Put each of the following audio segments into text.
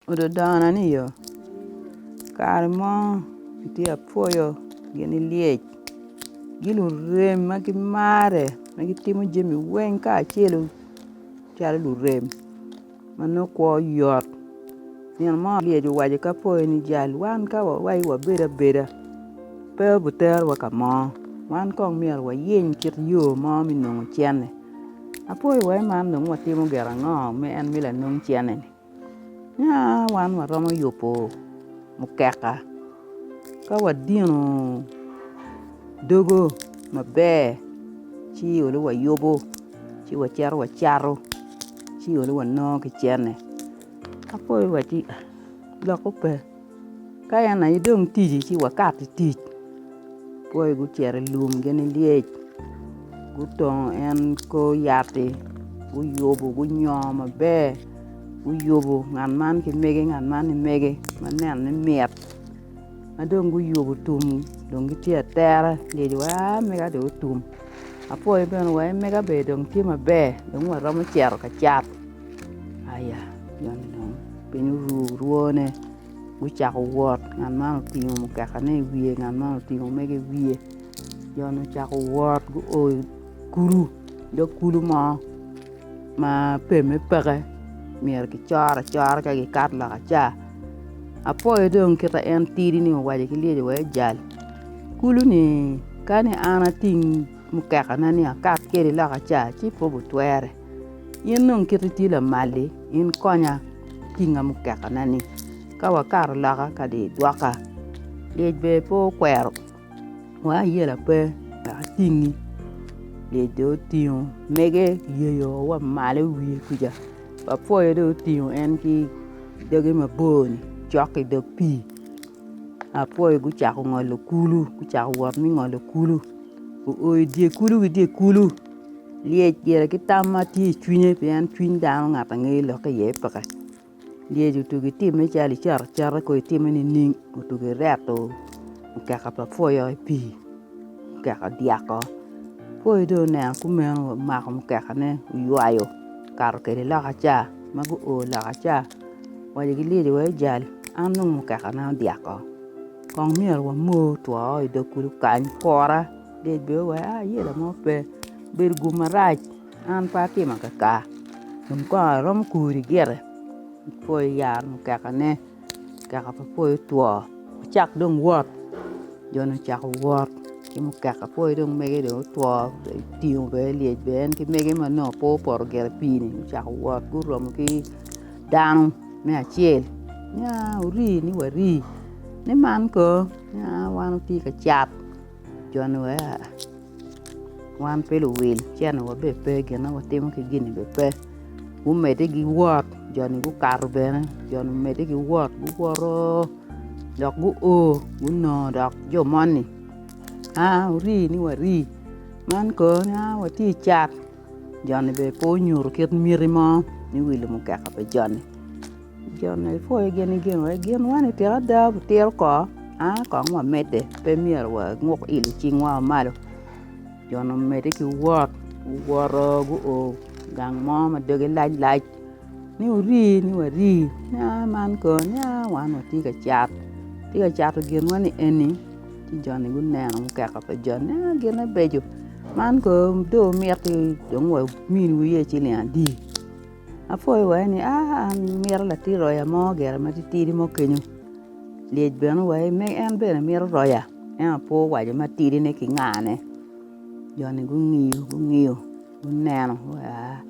Ododona ni yo, kare mo atye ka pwoyo gini lyec gi lurem ma gimare ma gitimo jami weng kacel calo lurem ma nongo kwo yot nino mo lyec owaco ki apwoyo ni jal wan ka wawaco ni wabedo abeda pe obiterowa ka mo wan kong myero wayiny kit yo mo me nongo cente apwoyo wa man dong watimo gin ango ma en me lanong cente-ni. Nya wan waromo yubo mukeka ka wadino dogo maber ci olu wayubo ci wacito wacato ci olu wanongo kicene ka pol wa ci lok pe. Ka en aye dong tici ci wakat i tic pwoi gucito i lum gini lyec gutongo en kor yat-ti guyubu gunyongo maber guyubu ngat man ki mege ngat man ki mege ma nenone mit ma dong guyubu tum dong gitye atere lyec wa mega dong otum apwoyo bene wa en mega bene dong tye maber dong waromo cito ka cat Aya, joni dong piny oru rwone, gucako wot ngat man otingo mukekane i wiye ngat man otingo mege i wiye joni ocako wot guo i kulu dog kulu mo ma pemme peke myero gicor acora ka gikato loka ca, apoyo dong kita en tidi ni owaco ki lyeci wek ejal, kulu-ni kani an ating mukekana ni akat kwede loka ca ci pe gutwere. In dong kit itye lamal-li, in konya tinga mukekana-ni. Ka wakato loka kadi i gwoka, lyec bene pe okwero wa, ayela pe wek atingi. Lyec dong otingo mege oyeyo wa malo i wiye kuca, wapwoyo dong otingo en ki doge mabor-ni cok i dog pii. Apwoyo gucako ngolo kulu, gucako wot me ngolo kulu. Guo i dye kulu ki dye kulu. Lyec gire ki tam ma tye i cwinye pien cwiny dano ngat angeyo lokke iye peke. Lyec otugo itimme calo icato acata kong itimme nining, otugo ireto, okeka pa pwoyo i pii, okeka odyeko. Pwoyo dong oneno kumeno omako mukekane oywayo okato kwede loka ca ma guo loka ca. Wacci ki lyeci wai jal an dong mukeka na odyako kong myero wa mor two i dog kulu kany kwora lyec bene owai a yelo mo pe obedo gum marac an pe atimo kaka dong kong aromo kuri gire pwoyo yat mukeka ne mukeka pe pwoyo otwo wacak dong wot jo ni ocako wot ki mukeka pwoyo dong mege dong otwo otingo bene lyec bene en ki mege ma nongo pe opoto gire pii ni gucako wot guromo ki dano me acel nya ori ni wari ni man kono nya wan watye ka cat joni wa wan pe luwil cene wa bene pe gin ma watimo ki gini bene pe gumedde ki wot joni gukato bene joni omedde ki wot guwoto dok gu o gunongo dok jo moni aa ori ni wari man kono aa watye cat Joni bene pe onyuto kit miti mo me wilo mukeka pa joni. Joni ipwoyo gin i ginwa i ginwa ni tika ada wutito ko a kong wamedde pe myero wanguk il i cingwa wa malo joni omedde ki wot guwoto guo gang mo ma doge lac lac ni wuri ni wari ni a man kong ni a wan watye ka cat watye ka cato ginwa ni eni. ci joni guneno mukeka pa joni a gine beco man kono do omiti dong wa omini wa iye ciling adi apwoyo wa eni a an mito latin roya mo gire ma titidi mo kenyo lyec bene wa me en bene mito roya ento apo owaco matidi ne kingane joni gungiyo gungiyo guneno gua.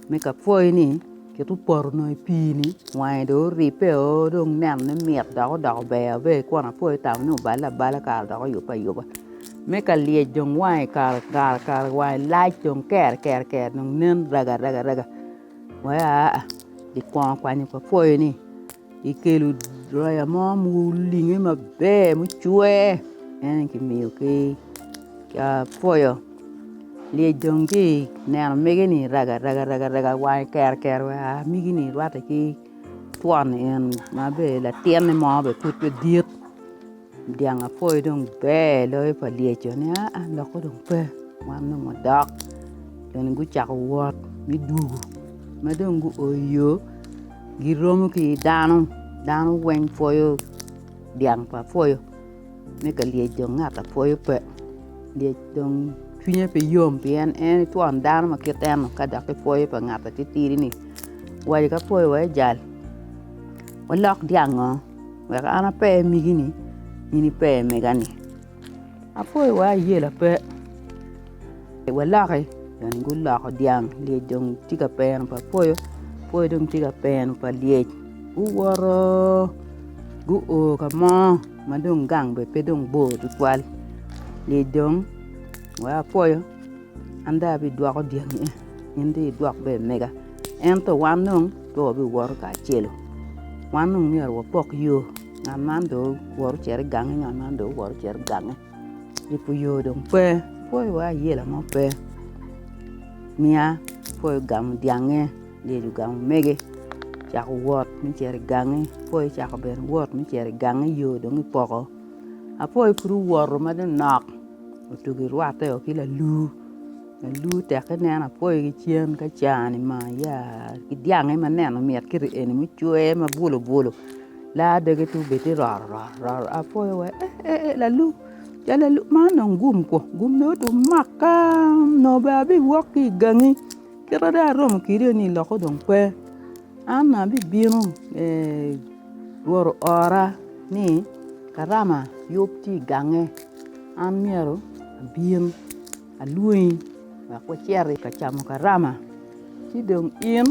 me ka pwoyi ni kit opoto onongo i pii ni wange dong oribbe o dong nenone mit dok odoko ber ma i kona pol aye tamo ni obale abala kare dok oyubbe ayuba me ka lyec dong wange kare kare wange lac dong kere kere kere dong nen raga raga raga wee aa ikwongo kwanyo ka pwoyi ni. Ikelo roya mo ma olinge maber mucwer en aye kimiyo ki apwoyo lyec dong tye ka neno mege ni raga raga raga wange kero kero wa mege ni rwate ki twon eni ma bene latinne mo bene pud pe dit. Dyang apoyo dong ber loyo pa Lyeco ni aa lokke dong pe wan dong wadok eni gucako wot me dwogo ma dong guo i yo giromo ki dano, dano weng pwoyo dyang pa pwoyo me ka Lyec dong ngat a pwoyo pe Lyec dong cwinye pe yom pien en twon dano ma kit en ka dok ki pwoyo pa ngat atitidi ni wa ka pwoyo wa ijal walok dyango. wek an ape i migi-ni in ipe i mega-ni. Apwo i wa ayela pe waloki dong guloko dyang lyec dong tye ka peno pa pwoyo, pwoyo dong tye ka peno pa lyec guwoto guo ka mo ma dong gang bene pe dong bor tutwal lyec dong weko apwoyo. An dong abidwoko dyangi eni, in dong idwok ber mega. Ento wan dong pe wabiwoto kacelu, wan dong myero wapok yo, ngat man dong owoto ocito i gangi, ngat man dong owoto ocito i gangi. Yubo yo dong pe, pwoyo wa ayela mo pe, miya pwoyo ogamo dyange, lyeci ogamo mege, ocako wot me cito i gangi, pwoyo ocako bene wot me cito i gangi, yo dong ipoko. Apoyo pud owoto ma dong nok otugo i rwatte o ki lalur, lalur teke nen apoyo ki cen ka cani ma ya ki dyange ma neno mit kiti eni mucwe ma bulu bulu laa doge tung bene tye roro roro roro apoyo wa eh eh eh lalur ja lalur man dong gum kwor gum dong otum makka nongo bene abiwok ki igangi kit ma dong aromo kwede ni loko dong pe. An abibino Rwot oora ni karama yub tye i gange an myero abin alwongi wek wacit i ka camo karama ci dong in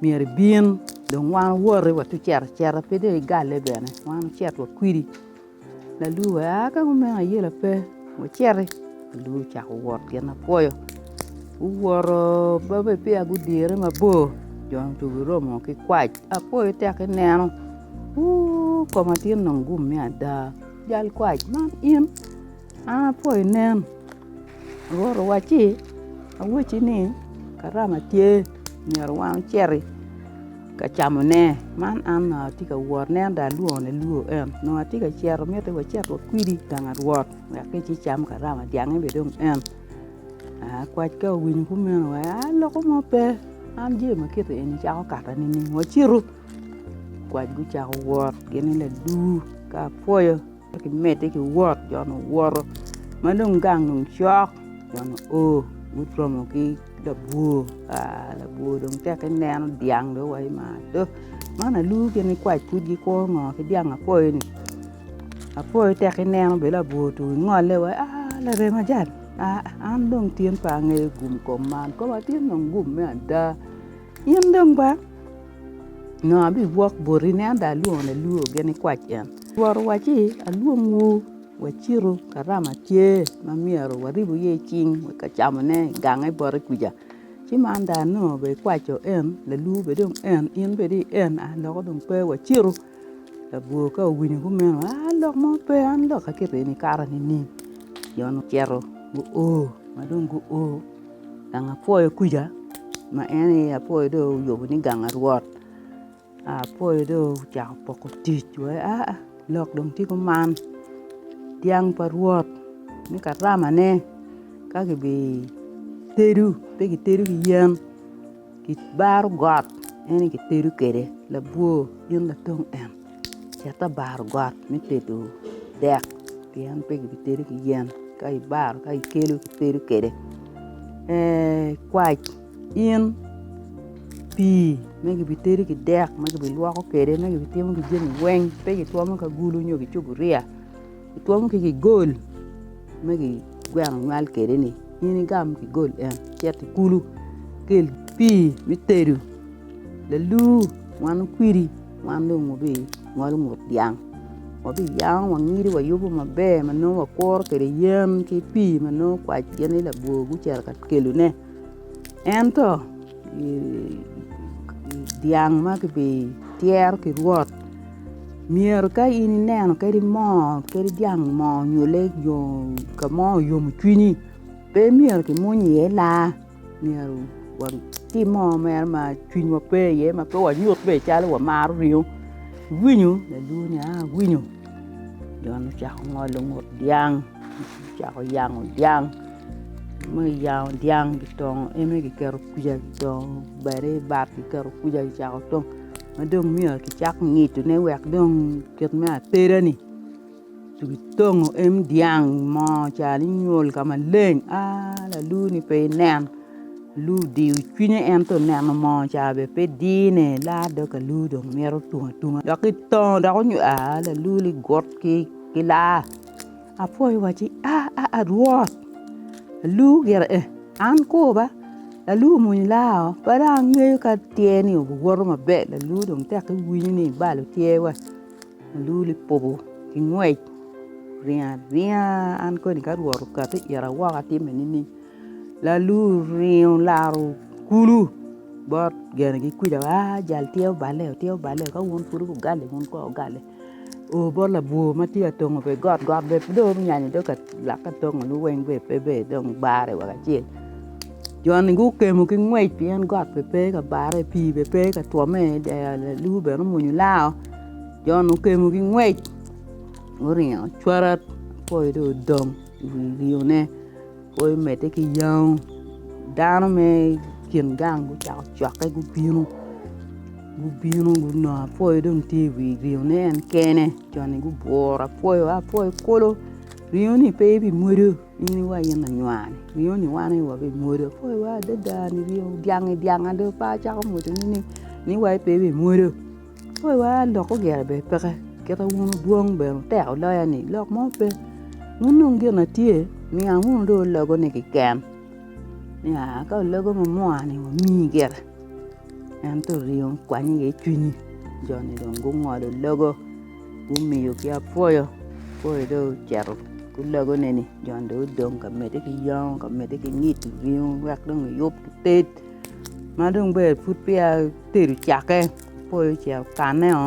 myero ibin dong wan owoti wacito acita pe dong igale bene wan wucit wakwidi. Laluu we aa ka kumeno ayela pe wuciti, laluu ocako wot gin ma pwoyo guwoto ma be peya gudire mabor jo ni dong giromo ki kwac apwoyo tek ki neno wuu koma tye dong gumme ada jal kwac man in. An apo inen, Rwot owacci, Awacci ni, Karama tye, myero wan wuciti ka camone. Man an onongo atye ka wot, nen dong alwongone lwo en. Onongo atye ka cito, mitte wacit wakwidi i gang Rwot, wek kic icam karama dyangge bene dong en. Aa, kwac ka owinyo kumeno wa, aa loko mo pe, an jami ma kiti eni cako kata nining? Wacitu. Kwac gucako wot gin i ladur ka apwoyo. Ci kimedde ki wot, jo-nu owoto ma dong gang dong cok, jo-nu o guromo ki labwor. Ka labwor dong teke neno dyang dong waco ni maa do, man aluu gin nikwac pud gikuro ngo ki dyang apoyo-ni. Apoyo teke neno bene labwor otum ingole waci ni aa laremo ajat aa an dong tyen pe angeyo gum kom man, kom atin dong gum me ada in dong ba. Nongo abigwok boti nen dong alwongo lalur gin nikwac en. Twero owaci, Alwongwu wacitu ka rama tye ma myero waribu iye cing wek camone i gang me bote kwica. Ci man dong anongo bene ikwaco en, lalur bene dong en, in bene dong en, aa loko dong pe wacitu. Labwor ka owinyo kumeno, aa lok mo pe an lok aketo eni kato nining? Jo-nu ocito guo ma dong guo. Gang apwoyo kuca ma en aye apwoyo dong oyubo ni gang arwot apwoyo dong ocako poko tic wai aa lok dong tye kuman dyang pa rwot me karamane ka kibitedo pe kitedo ki yen kibaro got en aye kitedo kwede labwor in latong en. Cit abaro got me tedo dek pien pe kibitede ki yen ka ibaro ka ikelo itedo kwede kwac in pii ma kibitedo ki dek ma kibilwoko kwede ma kibitimo ki jami weng pe kitwomo ki agulu nyo ki cuburiya. Twom ki gigol ma kigweno nywal kwede ni in igam gigol en cit i kulu ikel pii me tedo laluu wan kwidi wan dong wabingolo ngut dyang wabiyango wangido wayubo maber ma nongo wakuro kwede yen ki pii ma nongo kwac gin ni labwor gucito ka kelone ento Dyang ma kibityero ki rwot myero ka in ineno kadi moo kadi dyang moo nyo lee nyo ka mo oyomo cwinyi pe myero kimwony iye laa myero watim moo mere ma cwinywa pe iye ma pe wanyut bene calo wamaro ringo iwinyo lalwongo ni aa awinyo jo-ni ocako ngolo ngut dyang ocako yango dyang me yango dyang kitongo eme kiketo kwija kitongo bati i bat kiketo kwija kicako tongo ma dong myero kicak ngidone wek dong kit me ateda-ni ci kitongo em dyang mo cani nywol ka maleng aah laluni pe inen alu odiyo cwinye ento neno moo ca bene pe dine la dong alu dong mito tung atunga dok kitongo dok onywol aah lalu ligut ki laa Apwoyo wacci, aa Rwot, aluu gire eh, an kor ba, laluu omwonyo laa oo, pe dong angeyo ka tyer ni owoto maber, laluu dong tek iwinyo ni ibalo tyer wa, laluu lipobo ki ngwec oringo aringa an koni ka Rwot okato i ita woko atime nining? Laluu oringo olaro kulu bot gene ki kwija wa, aa jal tyer oballe oo, tyer oballe oo, ka wun pud wugali wun kono wugali. oo bot labwor ma tye ka tongo bene got got bene pe dong onyanyo dong ka lak ka tongoni weng bene pe ber dong bare woko acel joni gukemo ki ngwec pien got bene pe ka bare pii bene pe ka twome i dero lalu bene omwonyo lao joni okemo ki ngwec guringo cwarat apoyo dong odong i wi rione. Pe imedde ki yang. Dano me kin gang gucako cwakke gubino gubino gunongo apoyo dong tye i wi ringone en kene cone gubworo apoyo a apoyo kulu ringoni pe ibimwodo in iwaco in anywani ringoni wan aye wabimwodo apoyo wa adada ni ringo dyang-ngi dyang-ngi adada pe acako mwodone ni iwaco pe ibimwodo. Pe wa lok ogera bene peke kite wunu dwong bene wuteko loya ni lok mo pe wun dong gin ma tye niang wunu dong ologo ni kiken ya ka ologo ma mua ni wa mi gire ento oringo okwanyo iye cwinyi jo ni dong gungolo logo gumiyo ki apwoyo, apwoyo dong ocito ki ologo ne ni jo ni dong gudong ka mede ki yongo ka mede ki ngid ringo wek dong giyub gited ma dong bene pud peya Otedo cakke, opoyo ce okanne o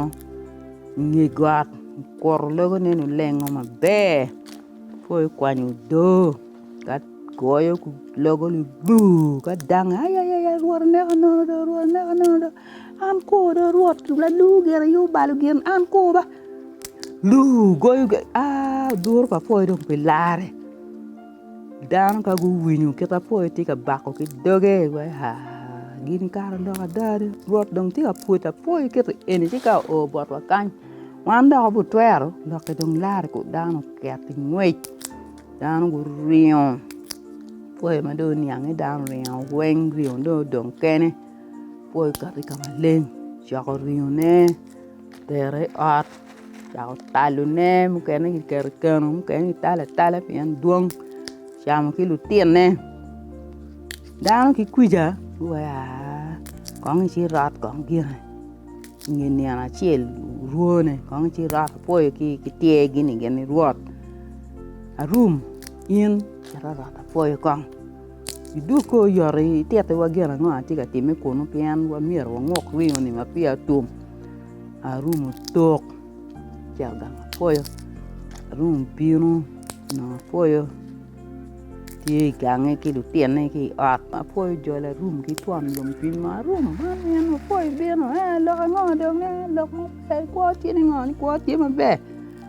i nge got, okuto logo nene olengo maber, opoyo okwanyo odoo ka goyo logo ni buu ka dange ayayaya Rwot oneko nono do, Rwot oneko nono do, an ko do Rwot lalwu gire aye obalo gin an ko ba, buu goyo ge aa oduro pa apoyo dong pe larre. Dano ka guwinyo kit ma pwoyo tye ka bako ki doge wai haa gini kare odoko ada ni Rwot dong tye ka pwodo apwoya kit eni ci ka oo botwa kany wan dok butwero lokke dong lare ku dano oket ki ngwec dano guringo pwoyo ma dong oniange dano oringo weng ringo dong odong kene pwoyo okato ki ka maleng ocoko ringone. Otero i ot dok otalone mukene kiketo i keno mukene kitalo atala pien dwong ocamo ki lutinone dano ki kwija wua kong ici irot kong gire inge nino acel orwone kong ici irot apwoyo ki tyer-gi ni gin irwot arum in cito rot apwoyo kong Idwogi kor yot itittiwa gin ango ma tye ka timme kunu pien myero wangwok ringo-ni ma peya otum, arumo tok ci agamo apoyo, arumo bino onongo apoyo tye i gange ki lutinne ki i ot ma apoyo ojolo arum ki twon lum piny ma arum man en apoyo bino en lok ango dong en lok maber kwo tye ni ngo ni kwo tye maber.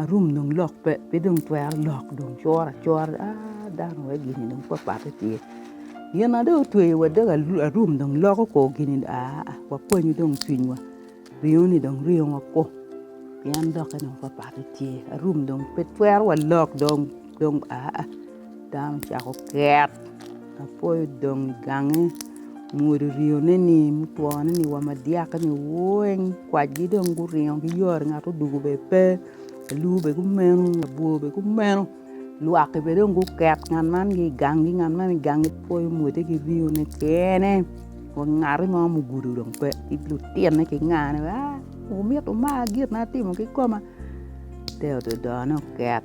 arum dong lok pe pe dong twero lok dong cura cura dong aah dano wai gini dong papate tye gina dong otweyo wa dog arum dong loko ko gini aah wakwanyu dong cwinywa ringo ni dong ringo wako pien dokke dong papate tye arum dong pe twero wa lok dong aah. Dano ocako ket apoyo odong i gange omwodo ryone ni mutwone ni wa ma dyake ni weng kwajgi dong guringo ki yot ngat odwogo bene pe lur bene gumeno labwor bene gumeno lwaki bene dong guket ngat man ni i gangi ngat man ni i gangi apoyo omwode ki ryone kene wa ngati mo ma ogudo dong pe ki lutine ki nga ni a wumito mar gin ma atimo kikoma te ododone oket.